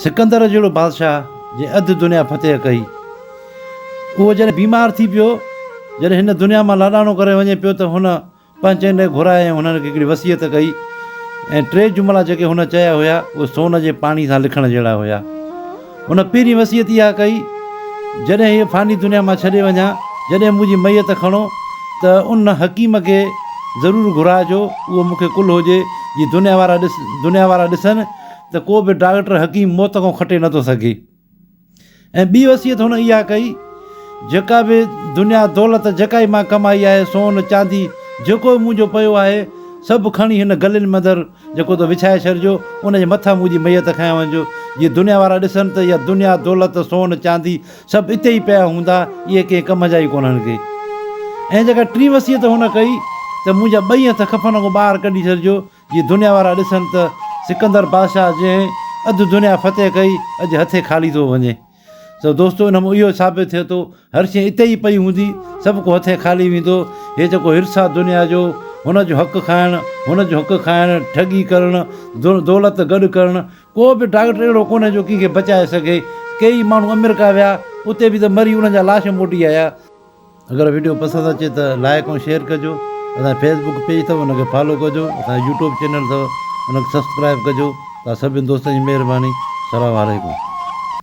سڪندر جهڙو بادشاهه جنهن اڌ دنيا فتح ڪئي، اهو جڏهن بيمار ٿي پيو، جڏهن هن دنيا مان لاڏاڻو ڪري وڃي پيو ته هن پنهنچن ڏي گهرائي ۽ هنن کي هڪڙي وصيت ڪئي ۽ ٽي جملا جيڪي هن چيا هيا اهي سون جي پاڻي سان لکڻ جهڙا هيا. هن پهرين وصيت اها ڪئي، جڏهن هيء فاني دنيا مان ڇڏي وڃان، جڏهن منهنجي ميت کڻو ته ان حڪيم کي ضرور گهرائجو، اهو مون کي ڪل هجي جي دنيا وارا ڏس دنيا وارا ڏسن، ته ڪو به ڊاڪٽر حڪيم موت کان کٽي نه ٿو سگهي ۽ ٻي وصيت هن اها ڪئي جيڪا به دنيا دولت جيڪا ئي مان ڪمائي آهي سون چاندي جيڪو به منهنجو پيو آهي سڀ کڻي هن گلين ۾ اندر جيڪو ته وڇائي ڇڏجو ان جي مٿان منهنجي ميت کنيا وڃجو جي دنيا وارا ڏسن ته اها دنيا دولت سون چاندي سڀ اتي ئي پيا هوندا اهي ڪنهن ڪم جا ئي ڪونهن ڪي ۽ جيڪا ٽي وصيت هن ڪئي ته منهنجا ٻئي هٿ کفن کان ٻاهر ڪڍي ڇڏجو جي دنيا وارا ڏسن ته سڪندر بادشاهه جنهن اڌ دنيا فتح ڪئي اڄ هٿي خالي ٿو وڃي سو دوستو ان مون اهو ثابت ٿئي ٿو هر شي اتي ئي پئي هوندي سڀ ڪو هٿي خالي ويندو هي جيڪو حرص آ دنيا جو هن جو حق کائڻ هن جو حق کائڻ ٺڳي ڪرڻ دولت گڏ ڪرڻ ڪو به ڊاڪٽر اهڙو ڪونهي جو ڪنهن کي بچائي سگهي ڪيئي ماڻهو امريڪا ويا اتي به ته مري انهن جا لاش موٽي آيا اگر ويڊيو پسند اچي ته لائيڪ ۽ شيئر ڪجو اسانجو فيسبوڪ پيج اٿو ان کي فالو ڪجو اسانجو يوٽيوب چينل اٿو ان کي سبسڪرائب ڪجو سڀني دوستن جي مھرباني سلام عليڪم.